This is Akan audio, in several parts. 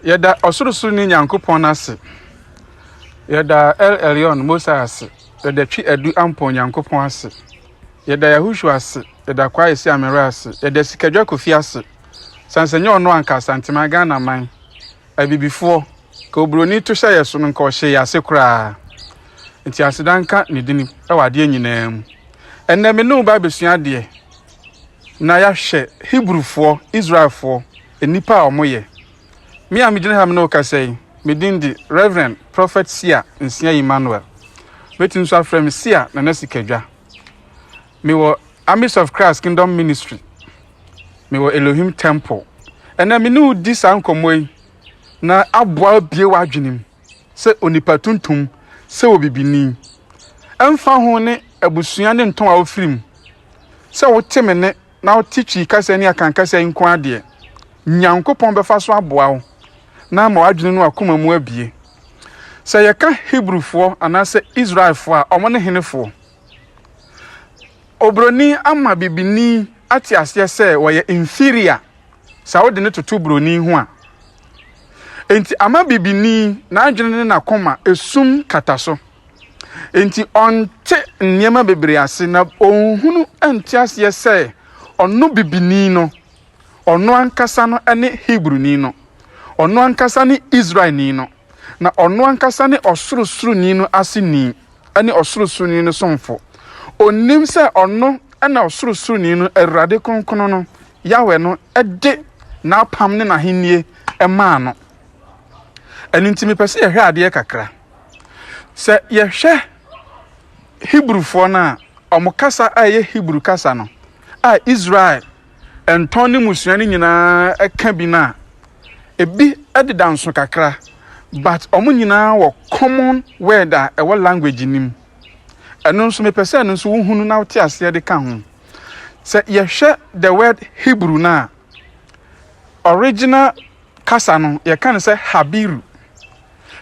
Yɛda Ɔsorosoroni Nyankopɔn ase, yɛda El Elyon Most High ase, yɛda Twi Adu Ampɔn Nyankopɔn ase, yɛda Yahushua ase, yɛda Kwaye Siamere ase, yɛda Sikadwa Kofi ase, sane sɛ nyɛ ɔno anka Asanteman Ghana man, abibifoɔ, ka oburoni to hyɛ yɛ so no nka ɔhyɛ yɛ ase koraa. Nti aseda nka ne dini wɔ adeɛ nyinaa mu. Ɛnɛ me ne wo ba abɛsua adeɛ na yɛahwɛ Hebrewfoɔ, Israelfoɔ, Nnipa a wɔyɛ. Me a megyina ha me ne wo kasa yi, me din de Rev. Prophet Sia Nsia Emmanuel. Mɛtumi nso afrɛ me Sia Nana Sikadwa. Mewɔ Armies of Christ Kingdom Ministry. Mewɔ Elohim Temple. Ɛnna me ne wo di saa nkɔmmɔ yi na aboa abie w'adwene mu sɛ onipa tuntum, sɛ obibini. Ɛmfa ho ne abusua ne ntɔn a wofiri mu, sɛ wote me ne na wote Twi kasa ne Akan kasa yi nko ara deɛ, Nyankopɔn bɛfa so aboa wo na ama w'adwene ne w'akoma mu abue. Sɛ yɛka Hebrifoɔ anaasɛ Israelfoɔ a, wɔn ne henefoɔ? Obroni ama bibini ate aseɛ sɛ wɔyɛ inferior sɛ wode no toto broni ho a. Enti ama bibini n'adwene ne n'akoma esum kata so. Enti ɔnte nneɛma bebree ase na onhunu nte aseɛ sɛ ɔno bibini no, ɔno ankasa no ne Hebroni no, ɔno ankasa ne Israelni no, na ɔno ankasa ne Ɔsorosoroni no aseni ne Ɔsorosoroni no somfo. Ɔnnim sɛ ɔno na Ɔsorosoroni no, Awurade Kronkron no, Yahweh no, de n'apam ne n'ahennie maa no. Ɛno nti mepɛ sɛ yɛhwɛ adeɛ kakra. Sɛ yɛhwɛ Hebrifoɔ no a, wɔn kasa a ɛyɛ Hebri kasa no a Israel ntɔn ne mmusua no nyinaa ka bi no a, ebi deda nso kakra, but wɔn nyinaa wɔ common word a ɛwɔ language no mu. Ɛno nso mepɛ sɛ ɛno nso wohunu na wote aseɛ de ka ho. Sɛ yɛhwɛ the word Hebrew no a, original kasa no yɛka no sɛ Habiru.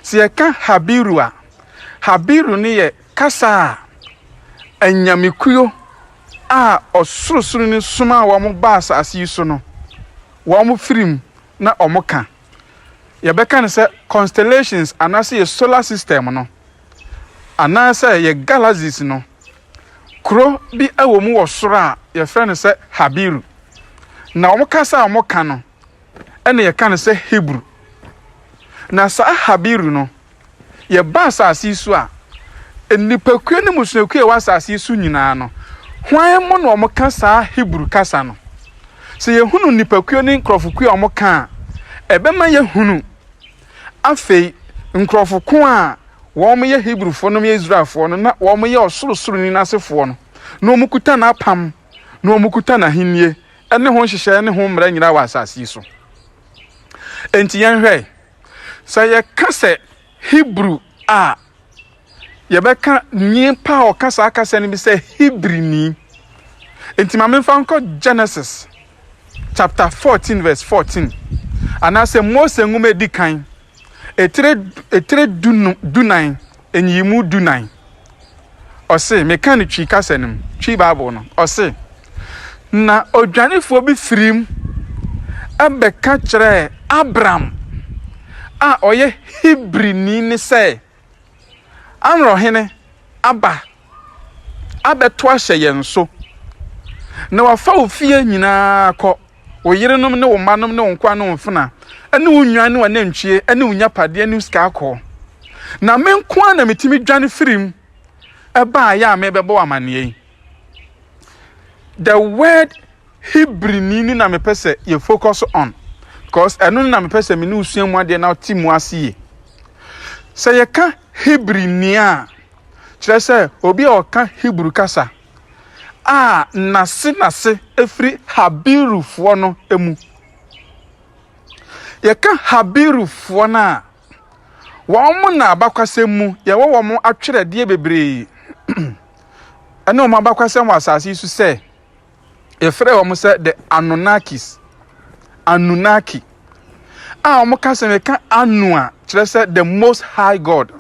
Sɛ yɛka Habiru a, Habiru no yɛ kasa a anyamekuo a Ɔsorosoroni somaa wɔn baa asase yi so no, wɔfiri mu na wɔka. Yɛbɛka no sɛ constellations anaasɛ yɛ solar system no anaasɛ yɛ galaxies no, kuro bi wɔ mu wɔ soro a yɛfrɛ no sɛ Habiru. Na wɔn kasa a wɔka no, na yɛka no sɛ Hebri. Na saa Habiri no, yɛba asase yi so a, nnipakuo ne mmusuakuo a ɛwɔ asase yi so nyinaa no, hwan mu na wɔka saa Hebri kasa no? Sɛ yɛhunu nnipakuo ne nkurɔfokuo a wɔka a, ɛbɛma yɛhunu afei nkurɔfo ko a wɔyɛ Hebrifoɔ no yɛ Israelfoɔ no na wɔyɛ ɔsorosoroni no asefoɔ no na wɔkuta n'apam na wɔkuta n'ahennie ne ho nhyehyɛe ne ho mmara nyinaa wɔ asase yi so. Enti yɛnhwɛ sɛ yɛka sɛ Hebrew a yɛbɛka nipa a ɔka saa kasa no bi sɛ Hebrini. Enti ma memfa nkɔ Genesis chapter 14 verse 14 anaasɛ Mose nwoma edi kan etire etire dunan Nyiyimu dunan. Ɔse, mekã no Twi kasa no mu, Twi Bible no, ɔse, Na odwanefoɔ bi firii mu bɛka kyerɛɛ Abram a ɔyɛ Hebrini no sɛ, Amorɔhene aba abɛto ahyɛ yɛn so, na wafa wo fie nyinaa kɔ. Wo yerenom ne wo mmanom ne wo nkoa ne wo mfena ne wo nnwan ne w'anantwie ne wo nyapadeɛ ne wo sika akɔ. Na me nko ara na metumi dwane firii mu baeɛ a merebɛbɔ wo amanneɛ yi. The word Hebrini no na mepɛ sɛ yɛ focus on because ɛno no na mepɛ sɛ me ne wosua mu adeɛ na te mu ase yie. Sɛ yɛka Hebrini a, kyerɛ sɛ obi a ɔka Hebrew kasa. a n'ase n'ase firi Habirufoɔ no mu. Yɛka Habirufoɔ no a, wɔn na abakwasɛm mu yɛwɔ wɔn atwerɛdeɛ bebree ɛne wɔn abakwasɛm wɔ asase yi so sɛ yɛfrɛ wɔn sɛ the Anunnakis Anunnaki a wɔka sɛ meka Anu a kyerɛ sɛ the most high God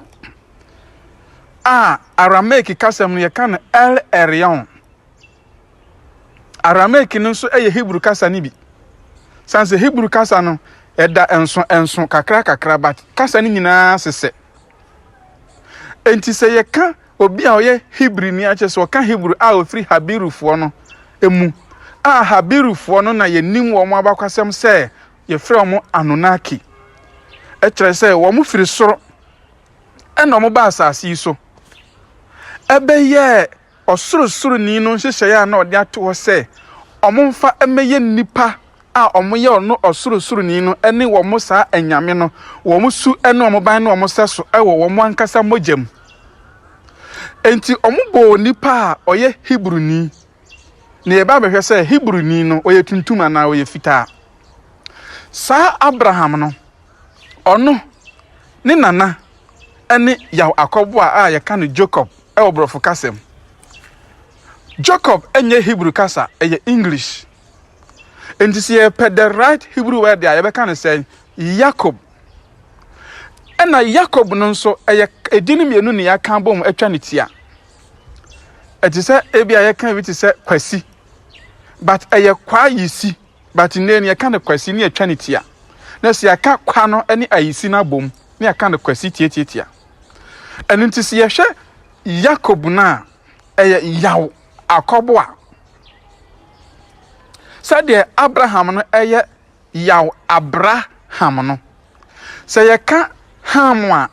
a Aramaik kasa mu no yɛka no El Elyon. Aramaik no nso yɛ Hebrew kasa no bi. San sɛ Hebrew kasa no ɛda nso nso kakra kakra but kasa no nyinaa sesɛ. Enti sɛ yɛka obi a ɔyɛ Hebrew ni akyɛ sɛ ɔka Hebrew a ofiri Habirufoɔ no mu a Habirufoɔ no na yɛnim wɔn abakɔsɛm sɛ yɛfrɛ wɔn Anunnaki. Ɛkyerɛ sɛ wɔn firi soro ɛnna wɔbaa asase yi so. Ɛbɛyɛɛ Ɔsorosoroni no nhyehyɛeɛ a na ɔde ato hɔ sɛ wɔmfa mmɛyɛ nnipa a wɔyɛ ɔno Ɔsorosoroni no ne wɔn saa anyame no, wɔn su ne wɔn ban ne wɔn sɛso wɔ wɔn ankasa mogya mu. Enti wɔbɔɔ nipa a ɔyɛ Hebruni. Na yɛba bɛhwɛ sɛ Hebruni no ɔyɛ tuntum anaa ɔyɛ fitaa. Saa Abraham no Ɔno, ne nana, ne Yaw akɔboa a yɛka no Jacob wɔ Borɔfo kasa mu. Jacob nyɛ Hebrew kasa, ɛyɛ English. Enti sɛ yɛpɛ the right Hebrew word a yɛbɛka no sɛn? Yakob. Ɛna Yakob no nso ɛyɛ edin mmienu ne yɛaka abom atwa ne tia. Ɛte sɛ ebi a yɛka bi te sɛ Kwasi, but ɛyɛ Kwayisi. But nnɛ ni yɛka no kwasi ne yɛtwa ne tia. Na sɛ yɛaka kwa no ne ayisi no abom ne yɛka no kwasi tiatiatia. Ɛno nti sɛ yɛhwɛ Yakob no a ɛyɛ yaw akɔbo a sɛdeɛ Abraham no ɛyɛ yaw Abraham no. Sɛ yɛka Ham a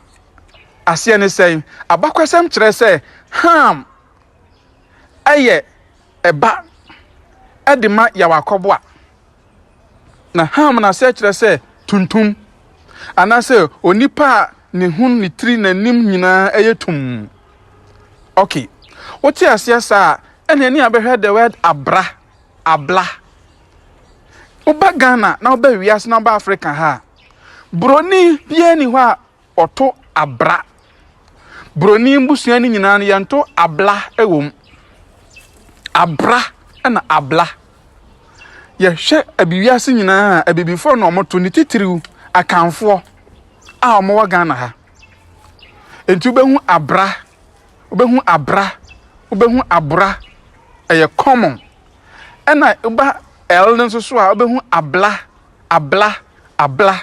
aseɛ ne sɛn? Abakɔsɛm kyerɛ sɛ Ham ɛyɛ Ɛba de ma yaw akɔboa. Na ham no ase kyerɛ sɛ tuntum, anaasɛ onipa a ne ho, ne tiri, n'anim nyinaa yɛ tum. Ok, wote aseɛ saa a, ɛna ɛne abɛhwɛ the word abra, abla. Woba Ghana na woba wiase na woba Africa ha a, buroni biara ni hɔ a Wɔto abra. Broni mbusua no nyinaa no yɛnto abla wɔ mu. Abra na abla. Yɛhwɛ abi wiase nyinaa a abibifoɔ na wɔto ne titiriw akanfoɔ a wɔwɔ Ghana ha. Nti wobɛhu abra, wobɛhu abra, wobɛhu abra ɛyɛ common. Ɛna woba L no nso so a wobɛhu abla, abla, abla.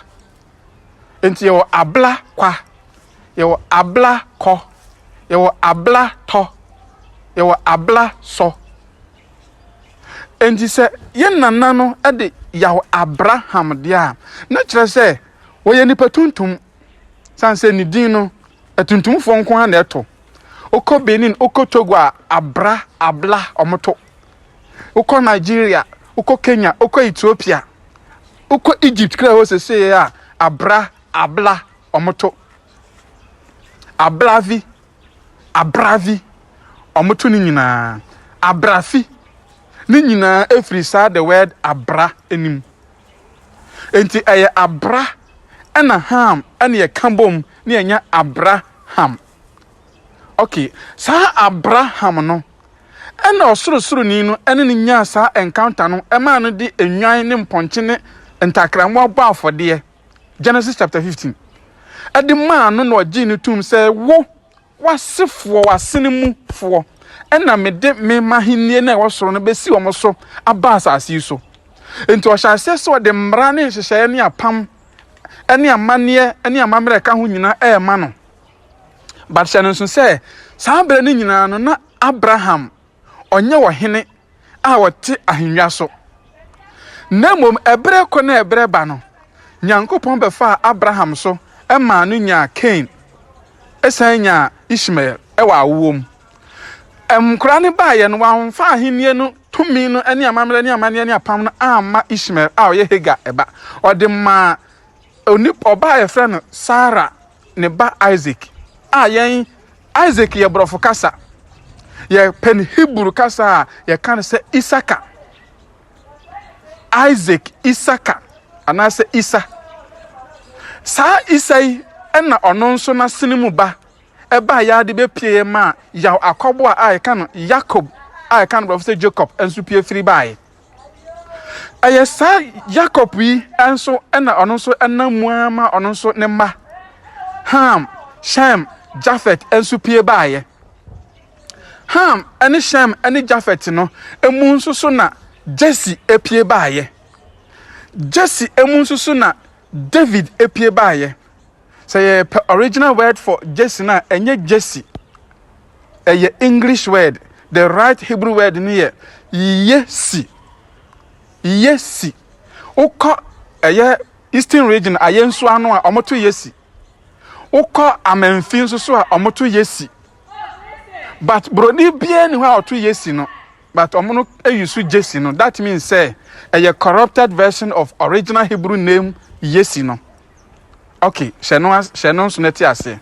Nti yɛwɔ abla kwa, yɛwɔ abla kɔ, yɛwɔ abla tɔ, yɛwɔ abla sɔ. Nti sɛ yɛn nana no de yaw Abraham deɛ a, na kyerɛ sɛ wɔyɛ nipa tuntum. San sɛ ne din no, atuntumfoɔ nko ara na ɛto. Wokɔ Benin, wokɔ Togo a, abra, abla, wɔto. wokɔ Nigeria, wokɔ Kenya, wokɔ Ethiopia, wokɔ Egypt kra hɔ sesee a abra abla ɔmoto abravi abravi ɔmoto ne nyinaa abrafi ne nyinaa efiri saa the word abra anim enti ɛyɛ abra ɛna ham ɛna ɛka bom ne ɛnya abra ham Ok, saa Abraham no, ɛna ɔsorosoroni no ɛne no nyaa saa encounter no, ɛmaa no de enwan ne mpɔnkye ne ntakrammoa bɔ afɔdeɛ, Genesis chapter 15. Ɛde maa no na ɔgyee no tum sɛ, wo, wasefoɔ, wasene mu foɔ, ɛna mede me mahennie na ɛwɔ soro no bɛsi wɔn so aba asase yi so. Enti ɔhyɛ aseɛ sɛ ɔde mmara ne nhyehyɛeɛ ne apam ne amanneɛ ne amammerɛ ɛka ho nyinaa ɛrema no. But hyɛ no nso sɛ, saa berɛ no nyinaa no, na Abraham, ɔnyɛ ɔhene a ɔte ahennwa so. Na mmom, ɛberɛ kɔ na ɛberɛ ba no, Nyankopɔn bɛfaa Abraham so maa no nyaa Kain, ɛsan nyaa Ishmael wɔ awoɔ mu. Nkora no baeɛ no, wɔamfa ahennie no tumi no ne amammerɛ ne amanneɛ ne apam no amma Ishmael a ɔyɛ Hagar ba. Ɔde maa ɔbaa a yɛfrɛ no Sara ne ba Isaac a yɛn Isaac yɛ borɔfo kasa yɛpɛ no Hebrew kasa a yɛka no sɛ Isaka Isaac Isaka anaasɛ Isa saa Isa yi ɛna ɔno nso n'asene mu ba ɛbaa yɛ ade bɛpie ma yaw akɔboa a yɛka no Yakob a yɛka no borɔfo sɛ Jacob nso pie firi baeɛ Ɛyɛ saa Yakob yi nso na ɔno nso nam mu ara ma ɔno nso ne mma Ham, Shem, Jafet nso pie baeɛ. Ham ne Shem ne Jafet no mu nso so na Jesse pie baeɛ. Jesse mu nso so na David pie baeɛ. sɛ yɛpɛ original word for Jesse no a ɛnyɛ Jesse ɛyɛ English word the right Hebrew word no yɛ Yesi Yesi wokɔ ɛyɛ Eastern region ayɛ nso ano a wɔto Yesi wokɔ amanfi nso so a wɔto Yesi but broni biara ni hɔ a ɔto Yesi no but wɔn no ayi so Jesse no that means sɛ ɛyɛ corrupted version of original Hebrew name Yesi no. Okay, hyɛ no as hyɛ no nso na te aseɛ.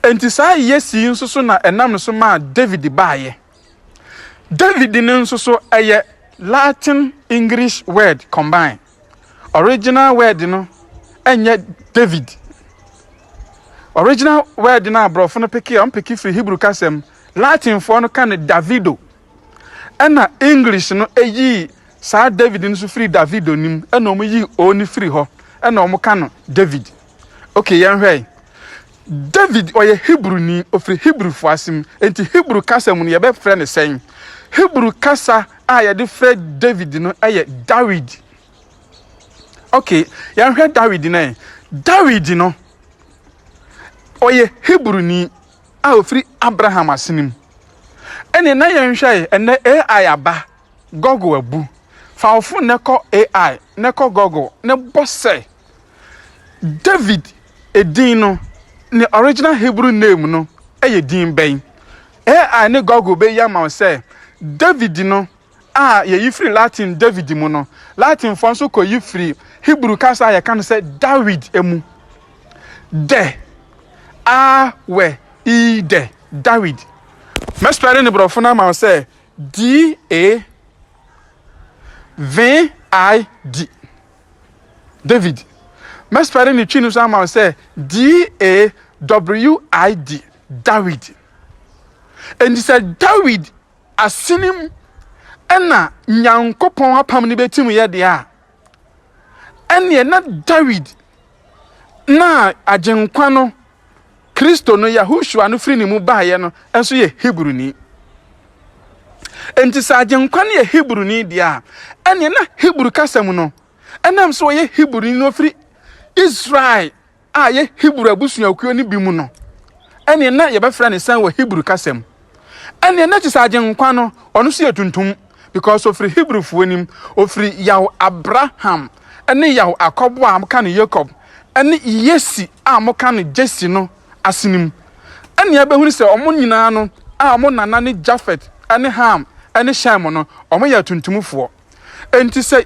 Enti saa Yesi yi nso so na ɛnam ne so maa David baayɛ. David no nso so ɛyɛ Latin English word combine. Original word no ɛnyɛ David. Original word no a borɔfo no peke a ɔmpeke firi Hebrew kasam Latinfoɔ no ka no Davido. Ɛnna English no yii saa David no nso firii Davido no mu, ɛnna wɔyii O no firii hɔ, ɛnna wɔka no David. Okay, yɛnhwɛ yi. David ɔyɛ Hebrewni, ɔfiri Hebrewfoɔ ase mu. Enti Hebrew kasa mu no yɛbɛfrɛ no sɛn? Hebrew kasa a yɛde frɛ David no yɛ Dawid. Okay, yɛnhwɛ Dawid no ɛ. Dawid no ɔyɛ Hebrewni. a ofiri Abraham asene mu. Ɛnneɛ na yɛnhwɛe, ɛnnɛ AI aba, Google abu. Fa wo fon na kɔ AI, na kɔ Google, na bɔ sɛ, David edin no, ne original Hebrew name no yɛ din bɛn? AI ne Google bɛyi ama wo sɛ, David no a yɛyi firi Latin David mu no, Latinfoɔ nso kɔyi firi Hebrew kasa a yɛka no sɛ Dawid mu. Dɛ, a, wɛ, i, dɛ, Dawid. Mɛspɛle ne borɔfo no ama wo sɛ D-A-V-I-D, David. Mɛspɛle ne twi no nso ama wo sɛ D-A-W-I-D, Dawid. Enti sɛ Dawid asene mu na Nyankopɔn apam no bɛtim yɛ deɛ a, ɛneɛ na Dawid na agyenkwa no, Kristo no, Yahushua no firi ne mu baeɛ no nso yɛ Hebruni. Enti sɛ agyenkwa no yɛ Hebruni deɛ a, ɛneɛ na Hebrew kasa mu no, ɛnam sɛ ɔyɛ Hebruni no firi Israel a ɛyɛ Hebri abusuakuo no bi mu no, ɛneɛ na yɛbɛfrɛ ne sɛn wɔ Hebri kasa mu? Ɛneɛ na kyesɛ Agyenkwa no, ɔno nso yɛ tuntum, because ɔfiri Hebrifoɔ nim, ɔfiri Yaw Abraham ne Yaw Akɔbo a moka no Yakob ne Yesi a moka no Jesse no asene mu. Ɛneɛ yɛbɛhunu sɛ wɔn nyinaa no a wɔn nana ne Jafet ne Ham ne Shem no, wɔyɛ atuntumfoɔ. Enti sɛ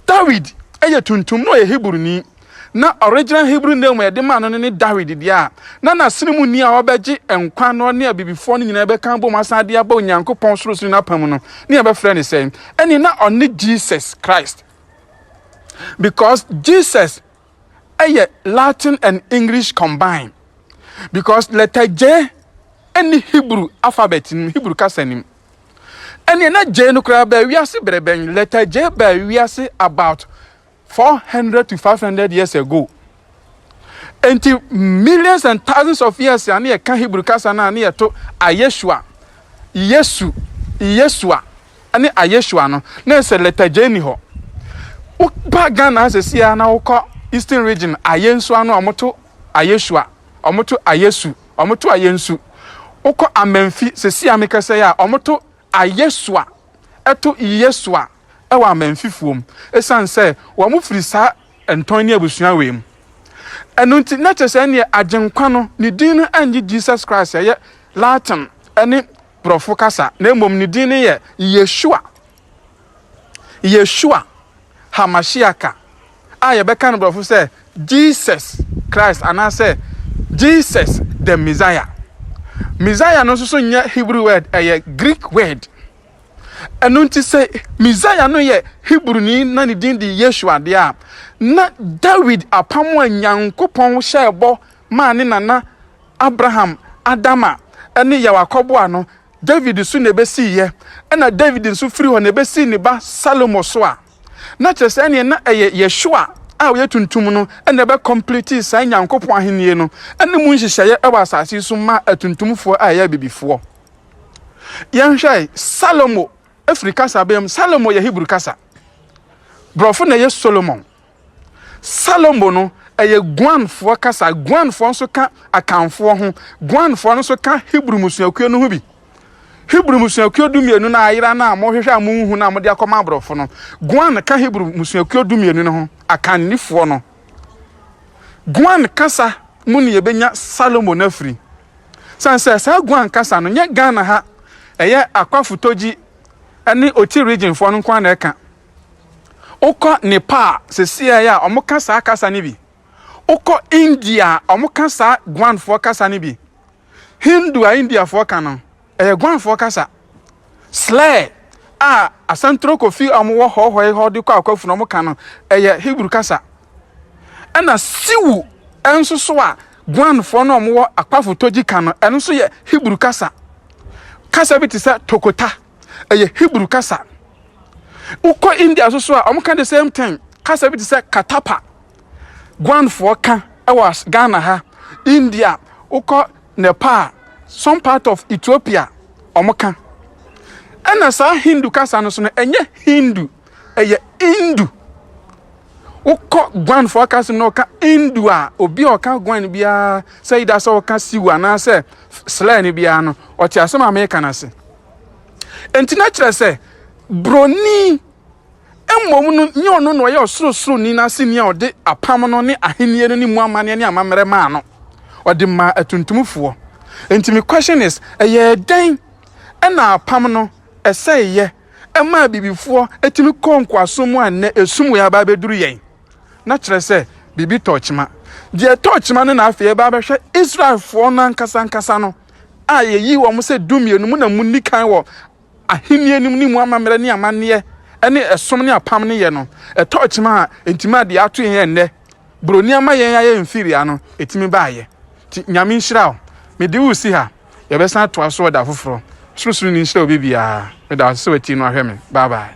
Dawid yɛ tuntum na ɔyɛ Hebruni, na original Hebrew name a yɛde maa no no ne Dawid deɛ a, na n'asene mu ni a ɔbɛgye nkwa na ɔne abibifoɔ no nyinaa bɛka abom asan de aba Onyankopɔn sorosoro no apam no, ne yɛbɛfrɛ no sɛn? Ɛne na ɔne Jesus Christ. Because Jesus ɛyɛ Latin and English combine. Because letter J ɛne Hebrew alphabet nim, Hebrew kasa nim. ɛneɛ na Jay no koraa baa wiase berɛ bɛn letter Jay baa wiase about 400 to 500 years ago enti millions and thousands of years a ne yɛka Hebrew kasa no a ne yɛto ayeshua yesu yesua ne ayeshua no na ɛsɛ letter Jay ni hɔ woba Ghana sɛsi a na wokɔ eastern region ayensua no a wɔto ayeshua wɔto ayesu Ɔmo to ayɛ nsu. Wokɔ Amanfi sesei a mekɛsɛe a, ɔmo to ayɛ su a ɛto yɛ su a ɛwɔ Amanfifoɔ mu. Esiane sɛ wɔn firi saa ntɔn ne abusua wei mu. Ɛno nti na kyerɛ sɛ ɛneɛ Agyenkwa no ne din no ɛnnye Jesus Christ a ɛyɛ Latin ɛne Brɔfo kasa na mmom ne din no yɛ Yeshua. Yeshua HaMashiaka a yɛbɛka no borɔfo sɛ Jesus Christ anaasɛ Jesus the Messiah. Messiah no nso so nyɛ Hebrew word, ɛyɛ Greek word. Ɛno nti sɛ Messiah no yɛ Hebrewni na ne din de Yeshua deɛ a, na Dawid apam a Nyankopɔn hyɛɛ bɔ maa ne nana Abraham, Adama, ne Yawa kɔboa no, Dawid so na ebesii yɛ, ɛnna Dawid nso firi hɔ na ebesii ne ba Salomo so a, na kyerɛ sɛ ɛnneɛ na ɛyɛ Yeshua a ɔyɛ tuntum no na ɛbɛkɔmpletee saa Nyankopɔn Ahennie no ne mu nhyehyɛeɛ wɔ asase yi so maa atuntumfoɔ a ɛyɛ abibifoɔ. Yɛnhwɛ Salomo firi kasabeam. Salomo yɛ Hebri kasa. Borɔfo na ɛyɛ Solomon. Salomo no, ɛyɛ Guanfoɔ kasa. Guanfoɔ nso ka Akanfoɔ ho. Guanfoɔ no nso ka Hebrew mmusuakuo no ho bi. Hebrew mmusuakuo dumienu no a ayera no a mohwehwɛ a monhu no a mode akɔma aborɔfo no, Guan ka Hebrew mmusuakuo dumienu no ho, Akannifoɔ no. Guan kasa mu ne yɛbɛnya Salomo no afiri. Sane sɛ saa Guan kasa no nyɛ Ghana ha ɛyɛ Akwa Futogyi ne Oti regionfoɔ no nko ara na ɛka. Wokɔ Nepal a, seesei a, wɔka saa kasa no bi. Wokɔ India a, wɔka saa Guanfoɔ kasa no bi. Hindu a Indiafoɔ ka no, ɛyɛ Guanfoɔ kasa. Slɛ a Asantoro Kofi a wɔwɔ hɔhɔe hɔ de kɔ akwafunu no wɔka no, ɛyɛ Hebrew kasa. Ɛna Siwu nso so a Guanfoɔ no a wɔwɔ Akpafo Togyi ka no, ɛno nso yɛ Hebrew kasa. Kasa bi te sɛ Tokota. ɛyɛ Hebrew kasa. Wokɔ India nso so a, wɔka the same thing. Kasa bi te sɛ Katapa. Guanfoɔ ka ɛwɔ as- Ghana ha. India, wokɔ Nepal, some part of Ethiopia, wɔka. Ɛna saa Hindu kasa no so no, ɛnyɛ Hindu, ɛyɛ Indu. Wokɔ Guanfoɔ kasa mu na wɔka Indu a, obi a ɔka Guan biara sɛ ida sɛ ɔka Siwa anaasɛ slɛ no biara no, ɔte asɛm a meka no ase. Enti na kyerɛ sɛ Buroni mmom no nyɛ ɔno na ɔyɛ ɔsorosoroni no aseni a ɔde apam no ne ahenni no ne mu amanneɛ ne amammerɛ maa no. Ɔde maa atuntumfoɔ. Enti me question is, ɛyɛɛ dɛn na apam no ɛsɛeeɛ ɛmaa bibifoɔ ɛtumi kɔɔ nkoasom mu a nnɛ esum wei aba abɛduru yɛn? na kyerɛ sɛ biribi tɔɔ kyema. Deɛ ɛtɔɔ kyema no na afei ɛba abɛhwɛ Israelfoɔ no ankasa ankasa no a yɛyi wɔn sɛ dumienu mu na munni kan wɔ ahenni anim ne mu amammerɛ ne amanneɛ ne ɛsom ne apam no yɛ no. Ɛtɔɔ kyema a enti maa deɛ ato yɛn ɛnnɛ buroni ama yɛn ayɛ inferior no ɛtumi baeɛ. Nti Nyame nhyira wo. Mede wo si ha. Yɛbɛsan atoa so ɛda foforɔ. Ɔsorosoroni nhyira obi biara. Meda wo ase sɛ watie no ahwɛ me. Bye bye.